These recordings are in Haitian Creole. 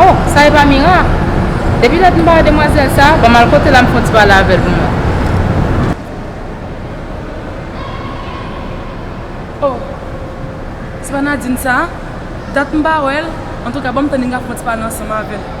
Oh sa epa mira? Depi lè t m pa wè demwazèl sa, banm al kotel la m fon ti pale avèl pou mwen. Oh se pa Nadine sa? Dat m pa wèl, antouka banm tann Inga fon ti pale ansanm avèl.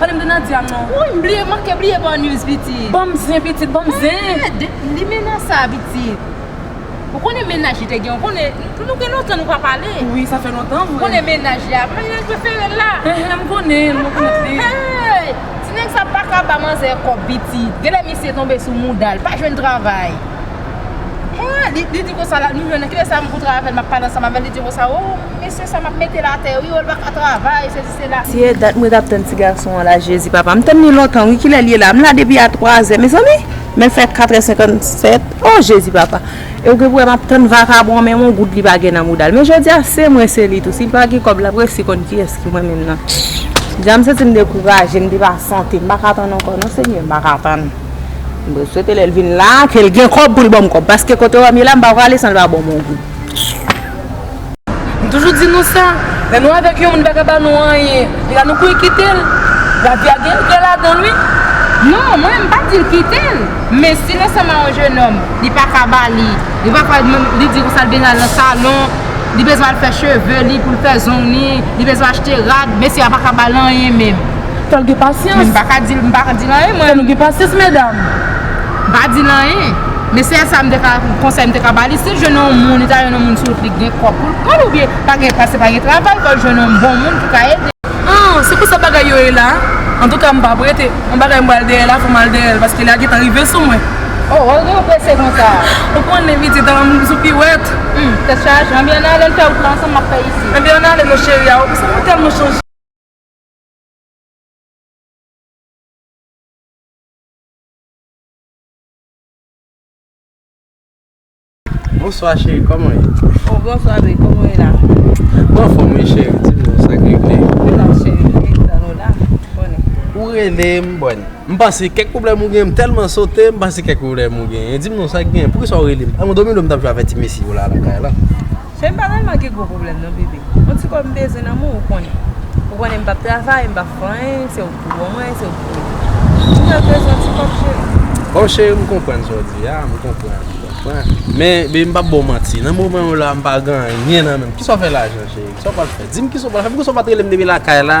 Pale m de Nadia non. Wouyy m bliye manke bliye baw news pitit. Banm zen pitit banm zen. Eeh de limena sa pitit. Ou konnen mennaj li te gen ou konnen nou gen lontan nou pa pale. Wi sa fè lontan vre. Ou konnen mennaj li a konnen nèg preferel la. Eeh m konnen mwen konn ap viv. Eehh ti nèg sa paka ba manzè kòb pitit genlè misye tonbe sou moudal pa jwenn travay eeh li di konsa la nou jwenn kilè sa m pou travay avèl map pale ansanm avèl li di konsa oo mesye sa map metel atè wi oo li paka travay sezi. Tiye dat mwen tap tann ti gason an la jezi papa m tann li lontan wi kilè l ye la m la depi a 3 zè mezanmi men l fè 4 è 57 oh jezi papa e w gen pou wè map tann vakabon an menm yon goud li pa gen nan mouda l men jodi a se mwen se li tou si l pa gen kòb lap resi konn kiyès ki mwen menm nan jan m santi m dekouraje m depasante m paka tann ankò non senyè m paka tann m swete lè l vin la ke l gen kòb pou l banm kòb paske kote wè m ye la m pa prale san l pa ban m yon goud. M toujou di nou sa, lè nou avèk yon moun li pa ka ba nou anyen, li la nou kouy kite l, lavi a gen regrè ladan l wi. Non mwen menm m pa dil kitel men sil ansanm a yon jenòm li paka bali li pa pral menm li di konsa li bezwen al nan salon li bezwen al fè cheve li poul fè zong li li bezwen achte rad mesye a paka bal anyen menm fòl gen pasyans men m paka dil anyen mwen fòk nou gen pasyans medam. M pa di l anyen. Men sèl sa m te ka, konsèy m te ka ba li, si l jwenn yon moun, li ta jwenn yon moun sou wout li k gen kòb pou l pran l oubyen pa gen, paske pa gen travay, fò l jwenn yon bon moun ki ka ede l. An, se konsa bagay yo ye la. Antouka m pa p rete. Yon bagay m pral dèyè la, fò m al dèyè l, paske la gentan rive sou mwen. O, wè gen yon prese konsa a. Ou konnen pitit, an, m sou piwèt. Hum, tèt chaje. Anben ann ale, ann fè wout la ansanm, m ap fè isit. Anben ann ale non cheri a. Ou konsa mwen tèlman chanje. Bonswa cheri koman ou ye? Oh bonswa bby koman ou ye la? Mwen anfom wi cheri di m non sak regle? Mwen la cheri m vin tann ou la ou konnen. Ou rele m bòn m panse kèk pwoblèm ou gen m tèlman sote m panse kèk pwoblèm ou genyen di m non sak genyen poukisa ou rele m? An mwen domi lò m tap jwe avè ti mesye yo la lakay la. Fey'm pa tèlman gen gwo pwoblèm non bby, on ti kòb mbezwen nan men w ou konnen. Ou konnen mpap travay, mpap fè anyen, se ou k pou bon mwen, se ou k pou m. Mwen jis bezwen on ti kòb cheri. Oh cheri mkonprann sa w di a, mkonprann, mkonprann. Men bby mpap ba w manti, nan moman yo la mpa gen anyen nan menm. Kisa w fè lajan cheri, kisa w pral fè? Dim kisa w pral fè, poukisa w pat rele m depi lakay la?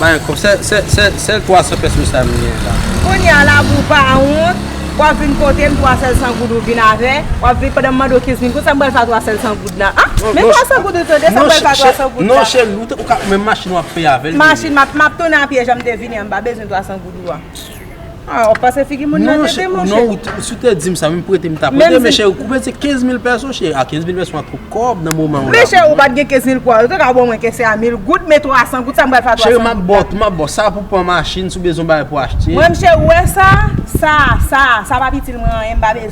Mayen kob sè sèl 300 pès mwen sa mwen gen la. Kounya la pou pa wont wap vin potem 3 sèl 100 goud ou vin avè wap vin pandan mande w 15 min kout sa m pral fè a 3 sèl 100 goud la an men 3 sèl goud ou tande sa m pral fè a 3 sèl goud la non cheri ou ka menm machin wap peye avèl machin map tounen a pye janm te vini an m pa bezwen 3 sèl goud ou a. Ah ou pase figi moun nan tete monche. Non ou te, si ou te dim sa menm prete m ta prete men cheri koupe se 15000 pèso cheri a 15000 pèso a twop kòb nan moman w la. Men cheri ou pat gen 15000 kòb ou te ka ban mwen ke se a 1000 goud men 300 goud sa m pral fè a 300 goud la. Cheri m ap baw, m ap baw sa pou pran machin si w bezwen bagay pou achte. Mwen m cheri ou wè sa, sa, sa, sa pap itil mwen anyen m pa bezwen.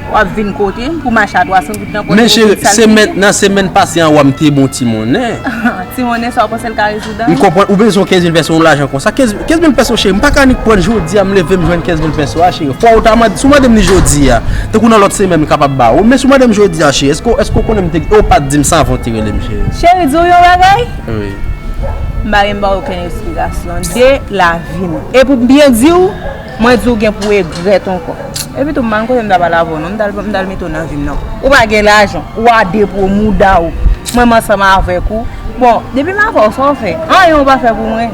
Wap vin kotem pou mache a 300 goud nan poche ou tout sal figi. Nan semèn pase an wa m te bon ti monnen. Ti monnen sa ou panse l ka rezoud dan? M konprann ou bezwen 15 mil pèso yon lajan konsa. 15 mil pèso cheri m pa ka annik prann jodi a m leve m jwenn 15 mil pèso a cheri. Fwa ou ta mande, si ou mande m li jodi a, tankou nan lòt semèn m kapab ba ou. Men si ou mande m jodi a cheri, èske ou konnen m te, e ou pat di m sa avan ou te rele m cheri. Cheri di ou yon bagay? Wi. M pa gen m ba ou okenn esplikasyon de lavi m. E pou m byen di ou. Mwen di w gen pou egrèt ankò. Epi tou m pa gen kote m t ap al avè w non. M t al mete w nan vi m non. Ou pa gen lajan. Ou a de pou w mouda w. Mwen m ansanm avèk ou. Bon, depi m avè w sa w fè? Anyen ou pa fè pou mwen.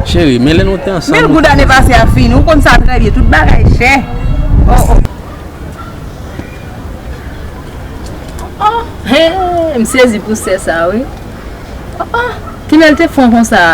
Cheri, men lè nou te ansanm. Mil goud ane pase a fini. Ou konn sa trè byen. Tout bagay chè. O o. O o. Hee, m sezi pou sè sa wi. O o. Kilè l te fon konsa a?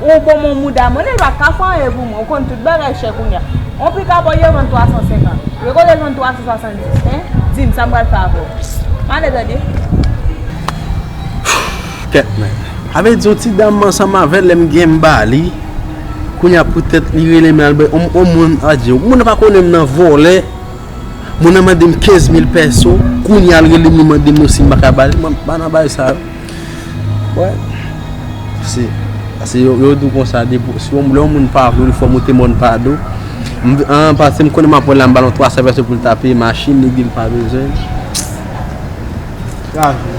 Ou bon mon mouda mwen Elba ka fè anyen pou mwen ou konn tout bagay chè kounya on pika bò yo vann 350 yo kote jwenn 370 hein dim sam pral fè avèw male tande. Fouu tèt mwen. Sa vle di yon ti dam m ansanm avèl lè m gen m ba li kounya poutèt li rele m al bay on moun adje moun nan pa konnen m nan vòlè moun nan mande m 15000 pèso kounya l rele m li mande m si m paka ba li m pa nan bagay sa yo. Wè, se, se yo, yo dou konsa de pou, si yon, lè yon moun pa vle ou li fè w moute mòn pa do. M vin, an pase m konnen m ap wè l la m ba l yon 300 vèse pou l ta peye machin li, epi l pa bezwen l. Lavi.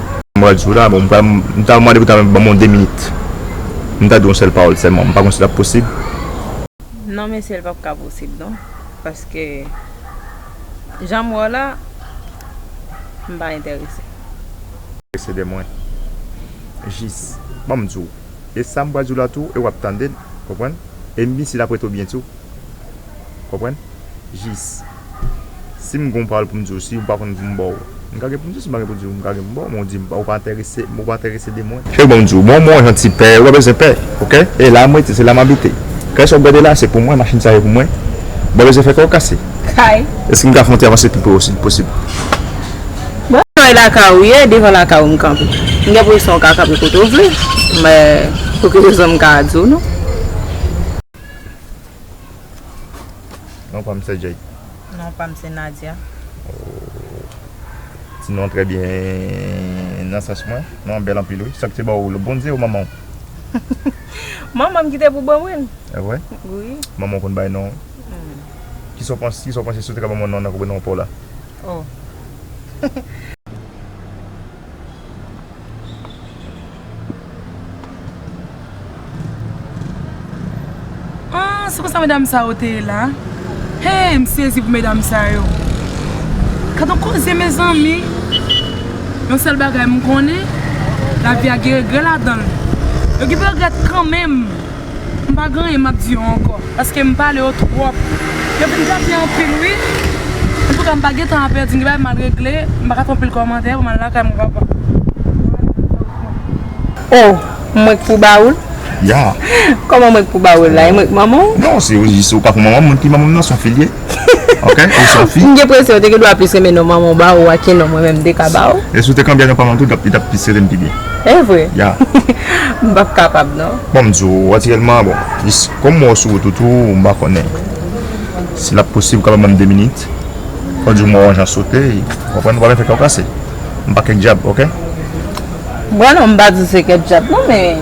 Mwen sou la bon m ta mande pou ta ban mwen 2 minit m ta di yon sèl pawòl sèlman m pa konn si l ap posib. Non mesye l pap ka posib non paske jan m wè w la m pa entèrese. Entèrese de mwen jis ban m di w e sa m pral di w la tou e w ap tande l konprann e m vin isit apre tou byen tou konprann jis. Si m gen yon pawòl pou m di w, si ou pa konn pou m ba w. M ka gen pou m di w, si m pa gen pou m di w, m ka gen pou m ba w, men ou di m ou pa enterese, ou pa enterese de mwen. Se pou m di w, bon mwen yon ti pè, ou pa bezwen pè, ok? E la m rete, se la m abite. Kay sa ou gade la a, se pou mwen, machin sa yo pou mwen. Ou pa bezwen fè kè w kase. Kay. Èske m ka fè yon ti avanse pi pre ou, si l posib? Bon, kay lakay ou ye, devan lakay ou m kanpe. M gen presyon ou ka kanpe kote ou vle, men pou ki rezon m ka di w non. Non pa m se Jake. Non pa m se Nadia. Ti non trè byen nan sans mwen. Non an bèl anpil wi. Sak te ba w l? Bondye ou manman w? Manman m ki te pou ban mwen l. E vre? Wi. Manman w konn bay non? Ki sa w panse si w te ka ban mwen non an nan koube non pa w la? O. Aah se konsa medam sa yo te ye la Heyy m sezi pou medam sa yo Gadon koze mezanmi Yon sèl bagay m konnen lavi a gen regrè ladan l Yo gen pou yo regrèt kanmenm M pa gen anyen map di yo ankò paske m pale yo twòp yo vin tapye anpil wi antouka m pa gen tan a pèdi m gen bagay m al regle m paka fè anpil kòmantè pou m al lakay mwen papa. Oh mwen k pou bawoul? Yeah. Kòman mwen k pou bawoul la? E mwen k manman w? Non se ou pa pou manman m, moun ki manman m nan son fil ye. Ok ou son fi. M gen presyon ou te gen dwa plis renmen non manman w ba ou a ke non mwen menm m te ka ba ou. E si w te kanbe a non pa manman tou li tap pi sere m pi byen. E vre? Ya. M pap kapab non. Bon m di w natirèlman bon jis kòm m wè w sou wout ou tou m pa konnen si lap posib ou kapab ban m 2 minit fò di w m wè w anjan sote ou konprann m pa vle fè kè w kase m pa kèk djab ok. Bon non m pa di w se kèk djab non men.